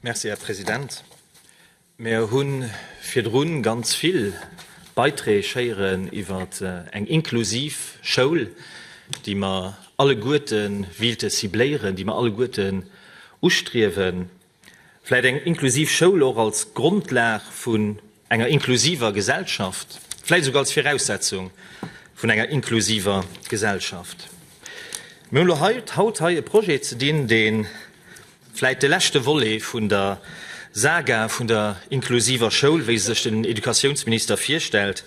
Merci, Här President. Mir hu virdru ganz vill Beiträg héieren iwwer eng inklusiv Schoul, déi mer alleguerte wéilte cibléieren, déi mer alleguerten ustriewen. Vläit eng inklusiv Schoul och als Grondlag vun enger inklusiver Gesellschaft, vläit esouguer als Viraussetzung vun enger inklusiver Gesellschaft. Mir hunn elo haut hei e Projet ze dinn, dee vläit de leschte Volet vun der Saga vun der inklusiver Schoul, wéi se sech den Educatiounsminister virstellt,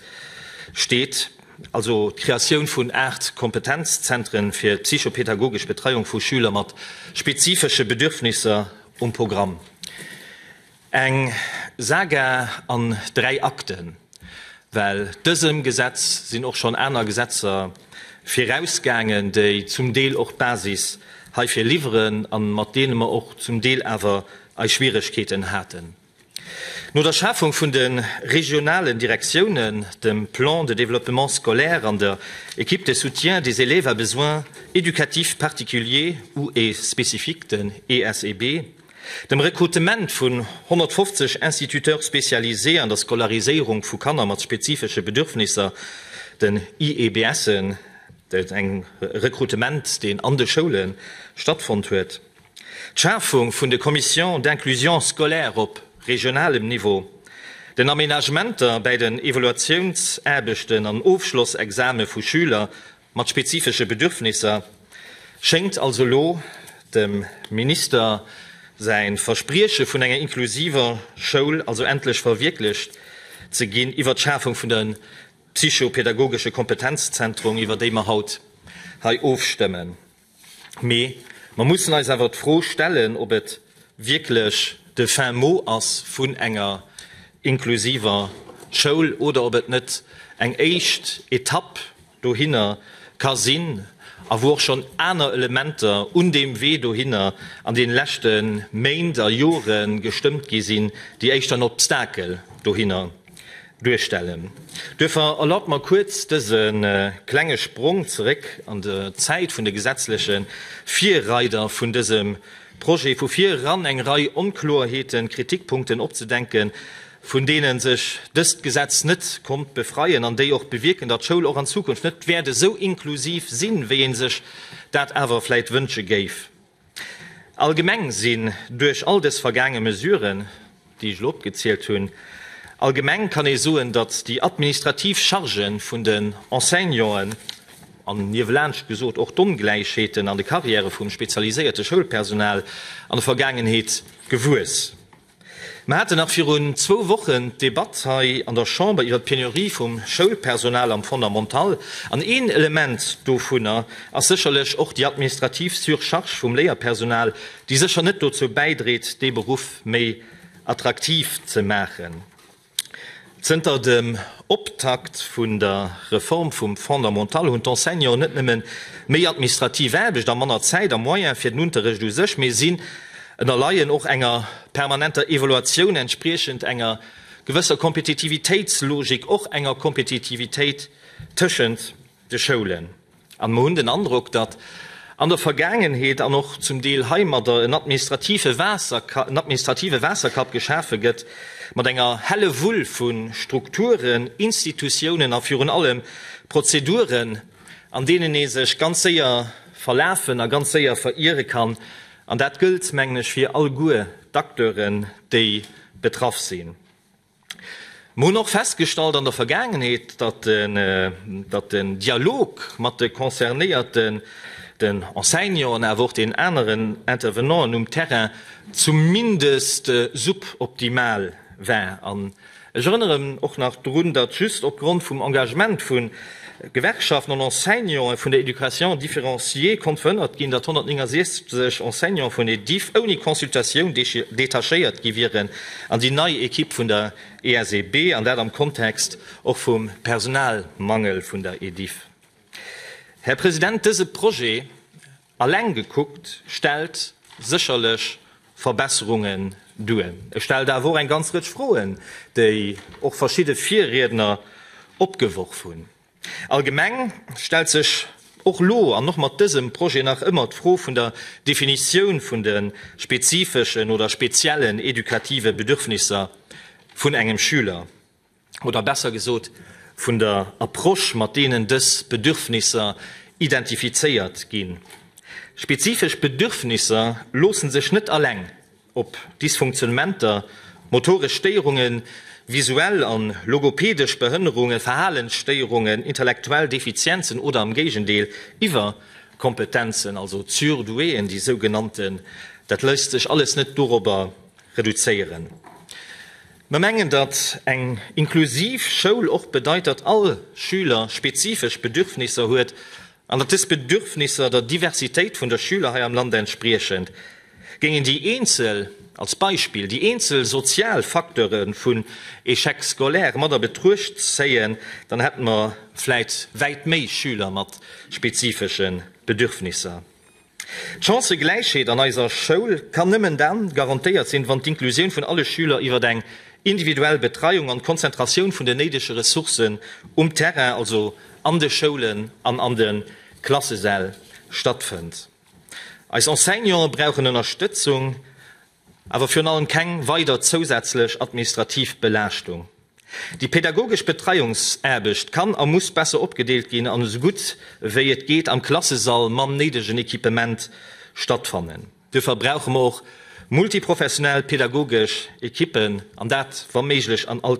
steet. also d'Kreatioun vun aacht Kompetenzzentren fir d'psychopedagogesch Betreiung vu Schüler mat spezifesche Bedürfnisser um Programm. Eng Saga an dräi Akten, well dësem Gesetz sinn och schonn aner Gesetzer virausgaangen, déi zum Deel och d'Basis heifir liwweren an mat deene mer och zum Deel awer eis Schwieregkeeten haten. No der Schafung vun de regionalen Direktiounen, dem Plan de développement scolaire an der Équipe de soutien des élèves à besoins éducatifs particuliers ou et spécifiques, den ESEB, dem Rekrutement vun 150 Instituteurs spécialisés an der Scolariséierung vu Kanner mat spezifesche Bedürfnisser, den IEBSen, dat ass e Rekrutement, deen an de Schoule stattfonnt huet, d'Schafung vun de Commissions d'inclusion scolaire op regionalem Niveau, den Aménagementer bäi den Evaluatiounsaarbechten an Ofschlossexame vu Schüler mat spezifesche Bedürfnisser, schéngt also elo dem Minister säi Versprieche vun enger inklusiver Schoul also endlech verwierklecht ze ginn, iwwert d'Schafung vun de psychopädagogesche Kompetenzzentrum, iwwert déi mer haut hei ofstëmmen. Mee mer mussen eis awer d'Fro stellen, ob et wierklech de fin mot ass vun enger inklusiver Schoul oder ob et net eng éischt Etapp dohinner ka sinn a wou och schonn aner Elementer un deem Wee dohinner an deene leschte Méint a Jore gestëmmt gi sinn, déi éischter en Obstakel dohinner duerstellen. Duerfir erlaabt mer kuerz dëse klenge Sprong zeréck an d'Zäit vun de gesetzleche Virreider vun dësem Projet vu vir eran, eng Rei Onkloerheeten, Kritikpunkten opzedenken, vun deene sech dëst Gesetz net konnt befreien an déi och bewierken, datt Schoul och an Zukunft net wäert esou inklusiv sinn, wéi ee sech dat awer vläit wënsche géif. Allgemeng sinn duerch all dës vergaange Mesuren, déi ech elo opgezielt hunn, allgemeng kann ee soen, datt déi administrativ Charge vun den Enseignanten an niewelaanscht gesot och d'Ongläichheeten an de Carrièrë vum spezialiséierte Schoulpersonal an der Vergaangenheet gewuess. Mer haten nach virun zwou Wochen d'Debatt hei an der Chamber iwwert d'Penurie vum Schoulpersonal am Fondamental, an een Element dovunner ass sécherlech och déi administrativ Surcharge vum Léierpersonal, déi sécher net dozou bäidréit, dee Beruff méi attraktiv ze maachen. Zënter dem Optakt vun der Reform vum Fondamental hunn d'Enseignanten net nëmmen méi administrativ Aarbecht a manner Zäit a Moyen fir den Unterrecht u sech, mee si ënnerleien och enger permanenter Evaluatioun entspriechend enger gewësser Kompetitivitéitslogik, och enger Kompetitivitéit tëschent de Schoulen an mer hunn den Androck, datt an der Vergaangenheet an och zum Deel heimadder en administrative Waasserka en administrative Waasserkapp geschafe gëtt mat enger Hellewull vu Strukturen, Institutiounen a virun allem Prozeduren, an deenen ee sech ganz séier verlafen a ganz séier veriere kann. An dat gëllt, mengen ech, fir alleguer d'Acteuren, déi betraff sinn. Mer hunn och festgestallt an der Vergaangenheet, datt den Dialog mat de Concernéierten, den Enseignanten, awer och den aneren Intervenanten um Terrain zumindest suboptimal war. An ech erënneren och nach drun, datt just opgrond vum Engagement vun Gewerkschaften an Enseignanten vun der Éducation différenciée konnt verhënnert ginn, datt 169 Enseignanten vun Ediff ouni Consultatioun detachéiert gi wieren an déi nei Ekipp vun der ESEB, an dat am Kontext och vum Personalmangel vun der Ediff. Här President, dëse Projet Alleng gekuckt stellt sécherlech Verbesserungen duer. E stellt awer och eng ganz Rëtsch Froen, déi och verschidde Virriedner opgeworf hunn. Allgemeng stellt sech och elo an och mat dësem Projet nach ëmmer d'Fro vun der Definitioun vun de spezifeschen oder speziellen edukative Bedürfnisser vun engem Schüler. oder besser gesot vun der Approche, mat deenen dës Bedürfnisser identifizéiert ginn. Spezifesch Bedürfnisser loosse sech net alleng op Dysfunktionnementer, motoresch Stéierungen, visuell an logopedesch Behënnerunge, Verhalensstéierungen, intellektuell Defizienzen oder am Géigendeel Iwwerkompetenzen, also d'Surdouéen, déi sougenannten, dat léisst sech alles net dorobber reduzéieren. Mer mengen, datt eng inklusiv Schoul och bedeit, datt all Schüler spezifesch Bedürfnisser huet an datt dës Bedürfnisser der Diversitéit vun der Schüler hei am Land entspriechen. Géingen déi eenzel, als Beispill, déi eenzel sozial Facteure vun Échec scolaire mat a Betruecht zéien, dann hätte mer vläit wäit méi Schüler mat spezifesche Bedürfnisser. D'Chancëgläichheet an eiser Schoul kann nëmmen dann garantéiert sinn, wann d'Inklusioun vun alle Schüler iwwert eng individuell Betreiung an d'Konzentratioun vun den néidege Ressourcen um Terrain, also an de Schoulen an an de Klassesäll stattfënnt. Eis Enseignanten brauchen Ënnerstëtzung Awer virun allem keng weider zousätzlech administrativ Belaaschtung. Déi pädagogesch Betreiungsaarbecht kann a muss besser opgedeelt ginn an esou gutt wéi et geet am Klassesall mam néidegen Equipement stattfannen. Duerfir brauche mer och multiprofessionell pädagogesch Equippen, an dat wa méiglech an all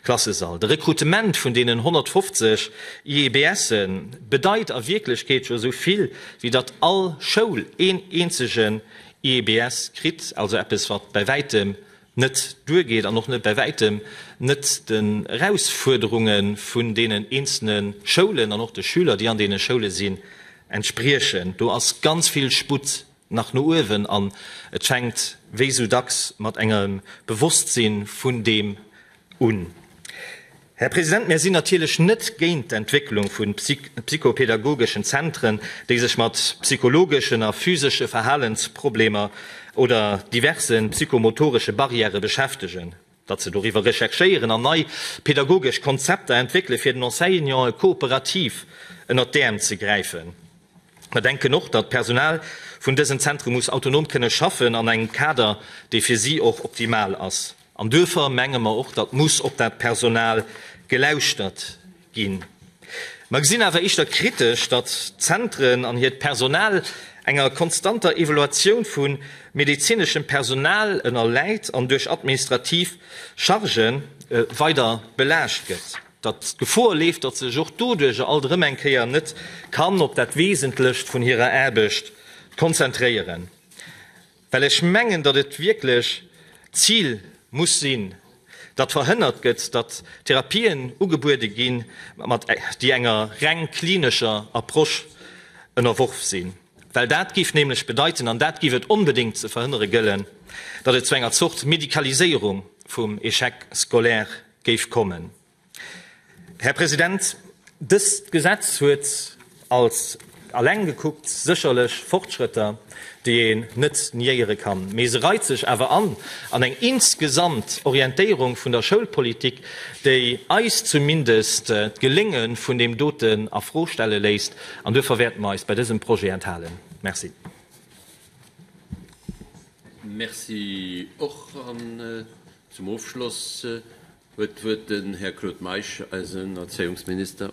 Klassesall. De Rekrutement vun deenen 150 IEBS'en bedeit a Wierklechkeet jo esou vill Wéi datt all Schoul een eenzegen IEBS kritt, also eppes wat bäi wäitem net duergeet an och net bäi wäitem net den Erausfuerderunge vun deenen eenzele Schoulen an och de Schüler déi an deene Schoule sinn entspriechen. Do ass ganz vill Sputt nach no uewen an et fänkt wéi esou dacks mat engem Bewosstsinn vun deem un. Här President, mir sinn natierlech net géint d'Entwécklung vu psychopedagogeschen Zentren, déi sech mat psychologeschen a physesche Verhalensproblemer oder diverse psychomotoresche Barrièrë beschäftegen, datt se doriwwer recherchéieren an nei pedagogesch Konzepter entwéckele fir den Enseignanten kooperativ ënnert d'Äerm ze gräifen. Mer denken och, datt d'Personal vun dësen Zentre muss autonom kënne schaffen an engem Kader, dee fir si och optimal ass. An duerfir menge mer och, datt muss op dat Personal gelauschtert ginn. Mer gesinn awer éischter kritesch, datt d'Zentren an hiert Personal enger konstanter Evaluatioun vu medezineschem Personal ënnerläit an duerch administrativ Chargë weider belaascht gëtt, datt d'Gefor leeft, datt se sech och doduercher alt erëm eng Kéier net kann op dat Wesentlecht vun hirer Aarbecht konzentréieren. Well ech mengen, datt et wierklech d'Zil muss sinn, datt verhënnert gëtt, datt Therapien ugebuede ginn, déi enger reng klinescher Approche ënnerworf sinn. Well dat géif nämlech bedeiten, an dat géif et onbedéngt ze verhënnere gëllen, datt et zu enger Zort Medikaliséierung vum Échec scolaire géif kommen. Här President, dëst Gesetz huet als alleng gekuckt sécherlech Fortschrëtter, déi een net niéiere kann, mee se reit sech awer an an eng insgesamt Orientéierung vun der Schoulpolitik, déi eis zumindest d'Gelénge vun deem doten a Fro stelle léisst. An duerfir wäerte mer eis bei dësem Projet enthalen. Merci. Merci och. An zum Ofschloss Huet d'Wuert den Här Claude Meisch, eisen Erzéiungsminister.